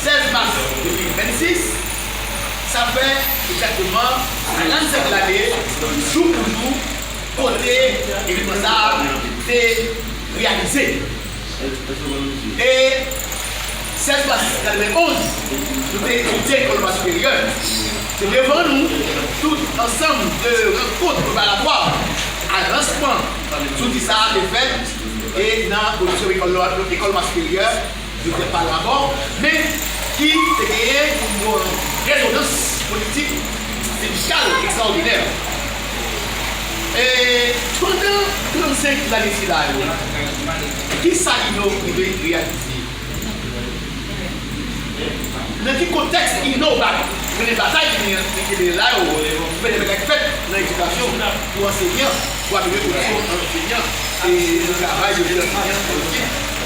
16 mas 2026, sa fè egzakteman 45 lane jou pou jou kote evenman sa a te reyalize. E 16 mas 91, nou te etidye nan Lekòl Superyè. Se devan nou, tout ansanm de rankont preparatwa a lansman zouti sa a te fèt e nan Oditòryòm Lekòl Nwa Siperyè, Doktè Pal Labò, men ki te genyen yon renonans politik medikal ekstraòdinè. E pandan 35 lane sila yo, ki sa Inno rive reyalize? Nan ki kontèks Inno va mennen batay li an li te mennen la yo pou pèmèt bagay fèt nan edikasyon pou ansenyan, pou amelyore kondisyon ansenyan e travay yo jwenn nan ansenyan nan lekòl?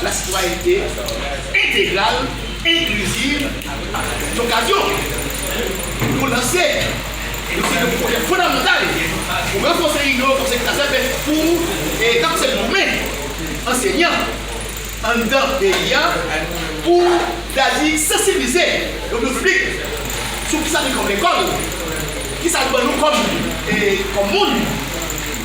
A la sitwayènte entegral, enkliziv ak yon okazyon pou nou lanse yon seri de pwojè fondamantal pou ranfòse inyo konsèy ki ta sèvi pou e kap sèvi pou men ansenyan anndan peyi a pou ta di sansiblize lopinyon piblik sou kisa ki kòm lekòl, kisa l ban nou kòm e kòm moun.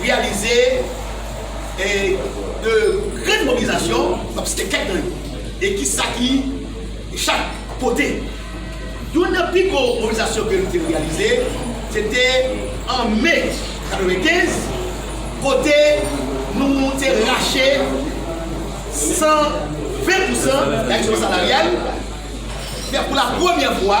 reyalize de grenn mobilizasyon, m ap site kèk nan yo, e ki sa ki chak pote. Youn nan pi gwo mobilizasyon ke nou te reyalize, se te an me 95, kote nou te rache 120 pousan nan ajisman salaryal, fè pou la premyè fwa,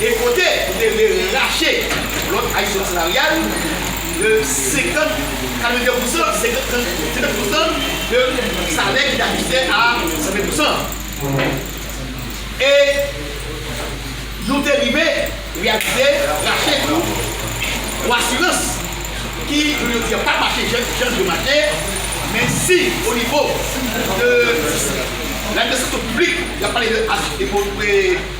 e kote ou te vle rache lòt adisyon salaryal de 50, 82 pousan, 50, 39 pousan de salè ki te ajiste a 120 pousan. E nou te rive reyalize rache tou yon asirans ki jounen jodi a pa mache jan li dwe mache, men si o nivo de lanimasyson piblik, y ap pale de H.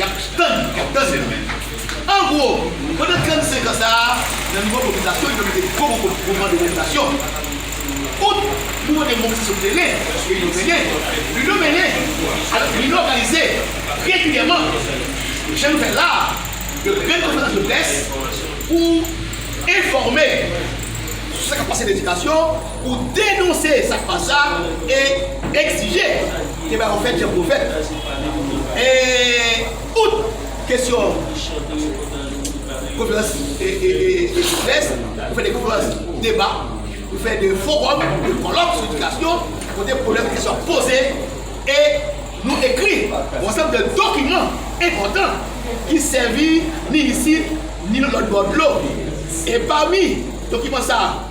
Yap tann, yap tann li nan men nou. An gwo, pandan 35 an sa a, nan nouvo kotizasyon li te mete gwo gwo kout mouvman de mobilizasyon. Out, mouvman de mobilizasyon sou teren ke Lino mennen, Lino mennen, alòs Lino òganize regilyèman, jan nou fè l la a, yon grenn konferans de près pou enfòme sou sa k ap pase nan edikasyon, pou denonse sa k pa sa e egzije ke bagay yo fèt jan pou yo fèt. E out kesyon konferans de près, pou fè de konferans deba, pou fè de forum, de kòlòk sou edikasyon kote pwoblèm kesyon ap poze e nou ekri yon ansanm de dokiman enpòtan ki sèvi ni isit ni lòt bò dlo. E pami dokiman sa a.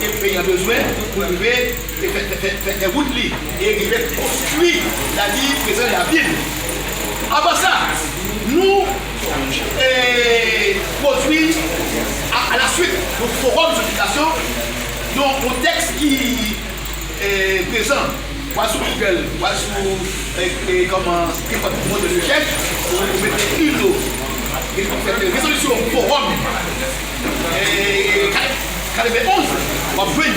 ke peyi a bezwen pou rive fè wout li e rive konstwi la li prezan e avni li. Anvan sa, nou pwodwi a la swit yon fowòm sou edikasyon nan yon tèks ki prezan wa sou Google, wa sou kòman nenpòt ki motè de rechèch, ou mete ILO, epi ou mete rezolisyon fowòm. Kalebe 11, w ap jwenn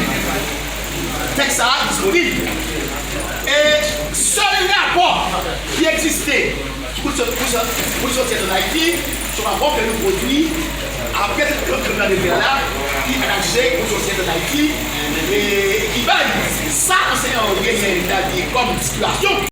tèks sa a disponib. E sèl rapò ki egziste pou l soti ann Ayiti, se yon rapò ke nou pwodui apre se Tribinal Kriminal de Gè la ki analize pou l soti ann Ayiti e ki bay sa anseyan yo genyen tabli kòm stipiyasyon.